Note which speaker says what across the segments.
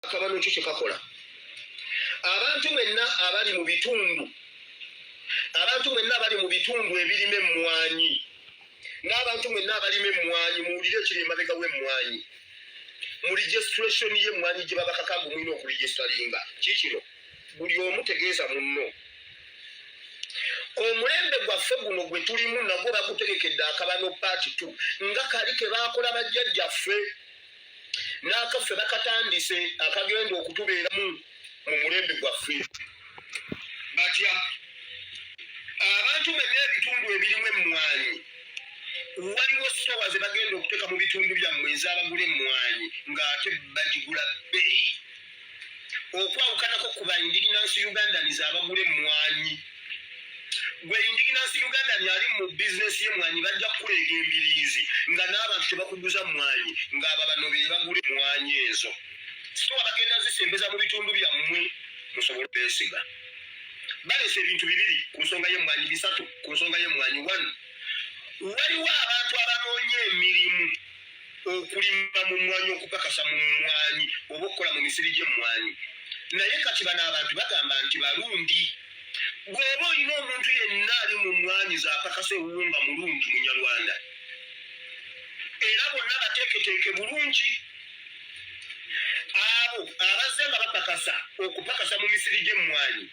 Speaker 1: akabano kyo kyekakola abantu mwenna abali mu bitundu abantu mwenna abali mu bitundu ebirima emmwanyi n'abantu mwenna abalima emmwanyi muwulire ekiri emabega w'emmwanyi mu registration y'emmwanyi gye babakaka mbu mulina okuregisteringa kikino buli omu tegeeza munno omulembe gwaffe guno gwe tulimu nagwo bagutegekedde akabano paati t nga kali ke baakola bajjajjaffe n'akaffe bakatandise akagenda okutubeeramu mu mulembe gwaffe batya abantu mwenna ebitundu ebirimu emmwanyi waliwo sitowa ze bagenda okuteeka mu bitundu byammwe ezabagula emmwanyi ng'ate bagigula bbeeyi okwawukanako ku ba indigenous ugandans abagula emmwanyi gwe indigenous ugandan ali mu bizinesi y'emmwanyi bajja kukuleega embiriizi nga n'abantu tebakuguza mmwanyi ng'aba bano be bagula emmwanyi ezo so abagenda zisembeza mu bitundu byammwe musobole obesiga balesa ebintu bibiri ku nsonga y'emmwanyi bisatu ku nsonga y'emmwanyi one waliwo abantu abanoonya emirimu okulima mu mmwanyi okukakasa mu mmwanyi oba okukola mu misiri gy'emmwanyi naye kati bano abantu bagamba nti balundi bw'oba olina omuntu yenna ali mu mmwanyi zakakasa ewuwunga mulundi munyarwanda era bonna bateeketeeke bulungi abo abazze nga bapakasa okupakasa mu misiri gy'emmwanyi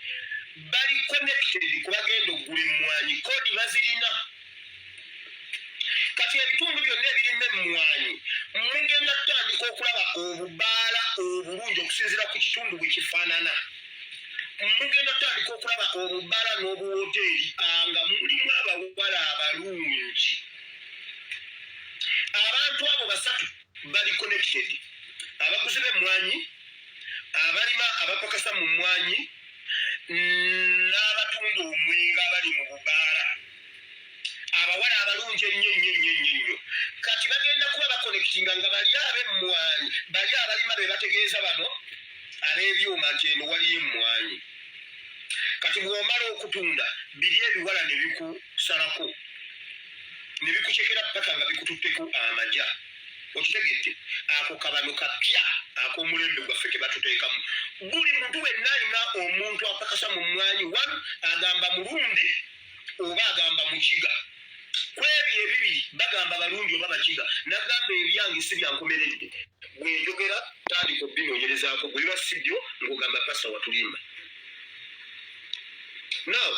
Speaker 1: bali connected kubagenda okugula emmwanyi kodi bazirina kati ebitundu byonna ebirina emmwanyi mugenda kutandika okulaba obubaala obulungi okusinzira ku kitundu bwe kifaanana mugenda kutandika okulaba obubaala n'obuwoteeri ah, nga mulimu abawala abalungi abantu abo basatu bali connected abaguzi b'emmwanyi abalima abapakasa mu mmwanyi n'abatunda omwenga abali mu bubaala abawala abalungi ennyo nnyo nnyo nnyo nnyo kati bagenda kuba bakonekitinga nga bali ab'emmwanyi bali abalima be bategeeza bano ab'ebyuma nti eno waliyo emmwanyi kati bw'omala okutunda biri ebiwala ne bikusalako ne bikucekera paka nga bikututteko amaja okitegedde ako kabano kapya ak'omulembe gwaffe ke batuteekamu buli muntu wenna alina omuntu apakasa mu mmwanyi wanu agamba mulundi oba agamba mukiga kwebyo ebibiri bagamba balundi oba bakiga nagamba ebyange si byankomeredde bwenjogera tandika obinonyerezako bwebiba si byo ngogamba pasa watulimba now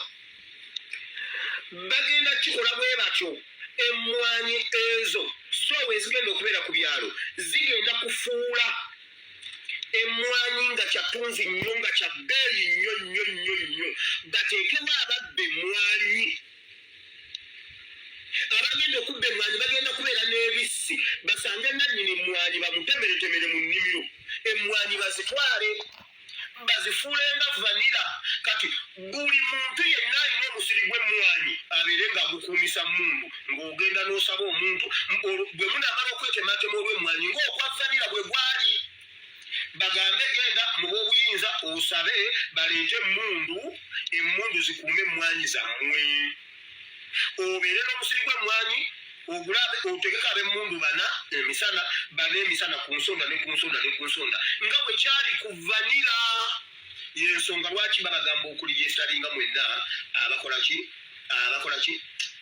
Speaker 1: bagenda kikola bwe batyo emmwanyi ezo soowa ezigenda okubeera ku byalo zigenda kufuula emmwanyi nga kyatunzi nnyo nga kya bbeeyi nnyo nnyo nnyo nnyo bateekewo ababba emmwanyi abagenda okubba emmwanyi bagenda kubeera n'ebissi basange nannyini emmwanyi bamutemeretemere mu nnimiro emmwanyi bazitwale bazifuule nga vanira kati buli muntu yenna alina omusiri gw'emmwanyi abeere nga agukuumisa mundu ng'ogenda n'osaba omuntu bwe munaamala okwetematema olw'emmwanyi ng'okwa vanira bwe gwali bagambe genda mu b'obuyinza osabe baleete emmundu emmundu zikuume emmwanyi zammwe obeere n'omusiri gw'emmwanyi ogulabe otegeka ab'emmundu bana emisana bana emisana ku nsonda ne ku nsonda ne ku nsonda nga bwe kyali ku vanira yensonga lwaki babagamba okuliyesalinga mwenna abakolaki abakolaki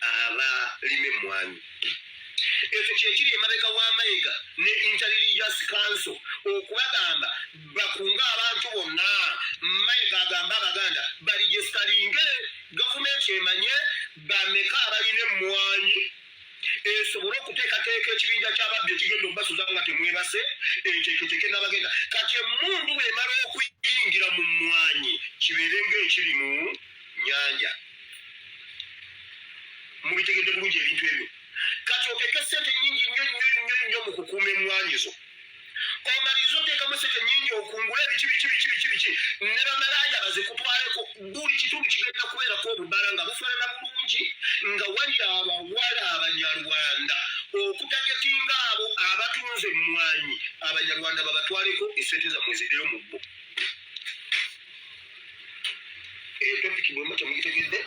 Speaker 1: abalima emmwanyi ekyo kyekiri emabega wa mayega ne interreligious council okubagamba bakunga abantu bonna mayega agamba abaganda baligestalinge gavumenti emanye bameka abalina emmwanyi esobole okuteekateeka ekibinja ky'ababbi ekigenda okubasuza nga temwebase enteeketeeke n'abagenda kati emmundu bw'emala okuyingira mu mmwanyi kibeere ng'ekiri mu nyanja mubitegedde bulungi ebintu ebyo kati oteeke ssente nyingi nnyo nnyo nnyo nnyo mu kukuuma emmwanyi zo omaliriza oteekamu sente nyingi okungula ebiki biki biki biki biki ne bamalaaya bazikutwaleko buli kitundu kigenda kubeerako obubala nga bufaanana bulungi nga wali abawala abanyarwanda okutagetinga abo abatunze emmwanyi abanyarwanda babatwaleko esente zammwe zideyo mu bbo eyo topiki bwemba temugitegedde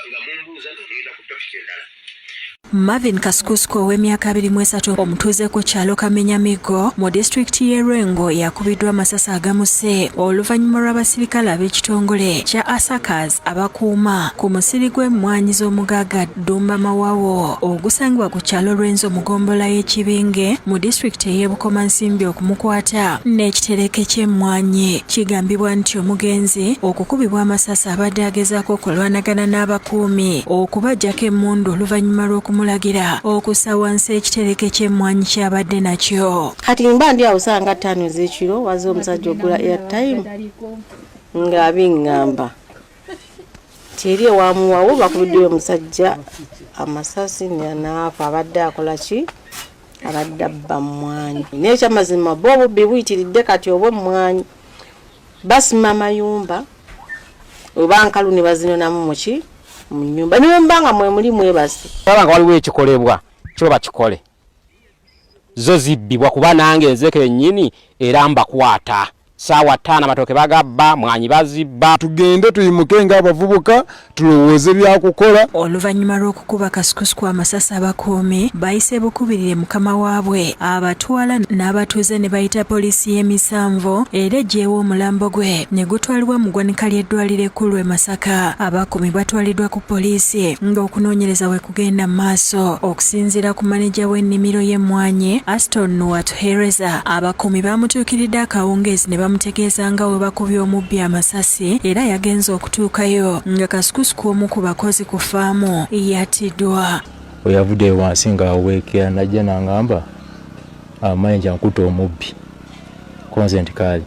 Speaker 1: nga mumbuuza nga ngenda ku topiki endala
Speaker 2: Marvin Kasukusuku ow'emyaka abiri mu esatu omutuuze ku kyalo Kamenyamigo mu disitulikiti y'e Lwengo yakubiddwa amasasi agamuse oluvannyuma lw'abasirikale ab'ekitongole kya Asakaz abakuuma ku musiri gw'emmwanyi z'omugagga Ddumba Mawawo ogusangibwa ku kyalo Lwenzo mu gombola y'Ekibinge mu disitulikiti ey'e Bukomansimbi okumukwata n'ekitereke ky'emmwanyi. Kigambibwa nti omugenzi okukubibwa amasasi abadde agezaako okulwanagana n'abakuumi okubajjako emmundu oluvannyuma lw'okumulagira okussa wansi ekitereke ky'emmwanyi ky'abadde nakyo. Kati mba ndi awo
Speaker 3: saa nga ttaano ez'ekiro waze omusajja ogula airtime ng'abingamba. kyeri ewamuwawo bakubiddeyo omusajja amasasi nyanaafa abadde akola ki abadde abba mumwanyi nekyamazima bo obubbi buyitiridde kati oba emmwanyi basima amayumba oba nkalu ne bazinonamu muki mu nyumba niwemba nga mwemuli mwebasi baba nga waliwo ekikolebwa
Speaker 4: kiba bakikole zo zibbibwa kuba nange nze kenyini era mbakwata saawa ttaano amatooke bagabba mwanyi bazibba tugende tuyimuke
Speaker 5: nga abavubuka tulowooze byakukola oluvannyuma lw'okukuba
Speaker 2: kasukusku amasasi abakuumi bayise bukubirire mukama waabwe abatwala n'abatuuze ne bayita poliisi y'emisanvu era eggyewo omulambo gwe ne gutwalibwa mu ggwanika ly'eddwaliro ekkulu e masaka abakuumi batwaliddwa ku poliisi ng'okunoonyereza we kugenda mu maaso okusinziira ku maneja w'ennimiro y'emmwanyi Aston Nuwatuhereza abakuumi baamutuukiridde akawungeezi ne bamutegeeza nga we bakubye omubbi amasasi era yagenze okutuukayo nga kasukusuku omu ku bakozi ku faamu yatiddwa we yavudde
Speaker 6: wansi nga aweekera najja nangamba amayinja nkuta omubbi konze nti kaali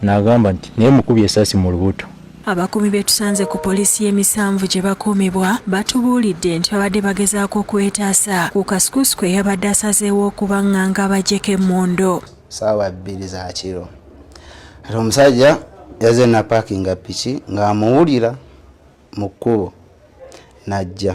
Speaker 6: nagamba nti naye mukubye esasi mu lubuto Abakuumi be
Speaker 2: tusanze ku poliisi y'e Misanvu gye bakuumibwa batubuulidde nti babadde bagezaako okwetaasa ku kasukusuku eyabadde asazeewo okubaŋŋanga abaggyeko emmundu. Ssaawa bbiri
Speaker 7: za kiro ate omusajja yaze napaakinga piki ng'amuwulira mu kkubo n'ajja.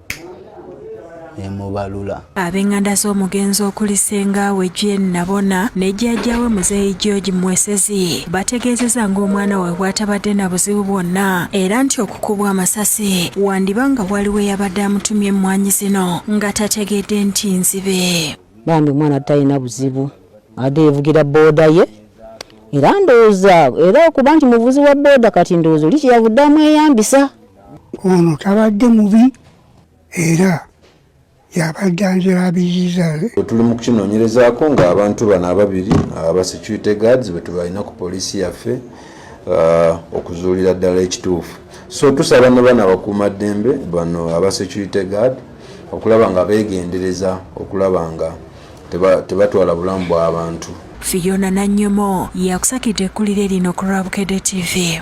Speaker 7: nemubalula ab'enganda
Speaker 2: z'omugenzi okuli sengaawe Jane Nabona ne jjajjaawe muzeeyi George Mwesezi bategeezeza ng'omwana we bw'atabadde na buzibu bwonna era nti okukubwa amasasi wandiba nga waliwo eyabadde amutumye emmwanyi zino nga tategedde nti nzibe bambi omwana
Speaker 3: talina buzibu ade yevugira booda ye era ndowooza era okuba nti muvuzi wa booda kati ndowooza oli kyeyavudde amweyambisa Ono
Speaker 8: tabadde mubi era yabadde anzira biziza. Tuli mu
Speaker 5: kukinoonyerezaako ng'abantu bano ababiri aba security guards betubalina ku poliisi yaffe uh, okuzuulira ddala ekituufu so tusaba ne bana abakuuma ddembe bano aba security guard okulaba nga beegendereza okulaba nga tebatwala bulamu bw'abantu
Speaker 2: Fiona Nannyomo yakusakidde ekkulire lino ku Rwabukede TV.